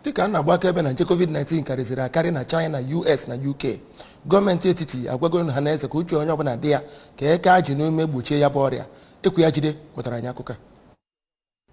dịka a na-agba akaebe na nje covid-19 karịziri akarị na china us na uk gọọmenti etiti agwago ọha na eze ka uche onye ọbụla dị ya ka e kee ajị n'ume gbochie ya bụ ọrịa ekwi ajide wetara anyị akụkọ a.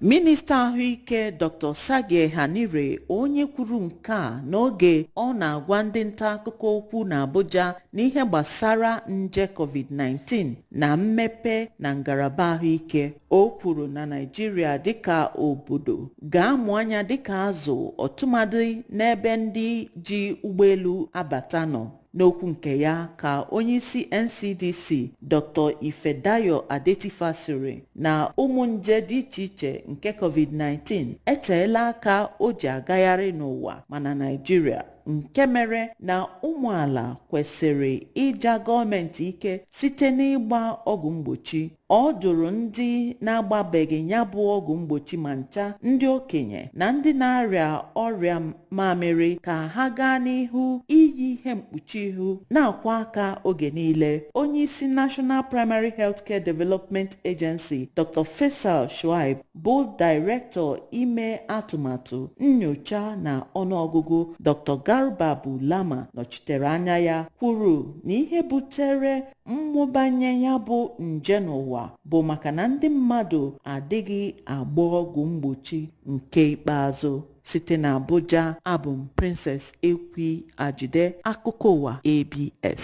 minista ahụike dr osagie ehanire onye kwuru nke a n'oge ọ na-agwa ndị nta akụkọ okwu n'abuja n'ihe gbasara nje covid-19 na mmepe na ngalaba ahụike o kwuru na naijiria dịka obodo ga-amụ anya dịka azụ ọtụmadị n'ebe ndị ji ụgbọelu abata nọ n'okwu nke ya ka onyeisi ncdc dr ifedayo adetifa sịrị na ụmụ nje dị iche iche nke covid-19 eteela aka o ji agagharị n'ụwa ma na naijiria nke mere na ụmụala kwesịrị ịja gọọmenti ike site n'ịgba ọgwụ mgbochi ọ dụrụ ndị na-agbabeghị ya bụ ọgwụ mgbochi ma ncha ndị okenye na ndị na-arịa ọrịa mamịrị ka ha gaa n'ihu iyi ihe mkpuchi ihu na-akwọ aka oge niile onye isi National Primary Healthcare Development Agency Dr. Faisal Shuaib bụ Dairektọ Ime Atụmatụ, Nnyocha na Ọnụọgụgụ Dr. Garba Bulama nọchitere anya ya kwuru na ihe butere mmụbanye ya bụ nje n'ụwa bụ maka na ndị mmadụ adịghị agba ọgwụ mgbochi nke ikpeazụ. Site n'Abuja, abụ m Princess Ekwi Ajide, akụkọ ụwa ABS.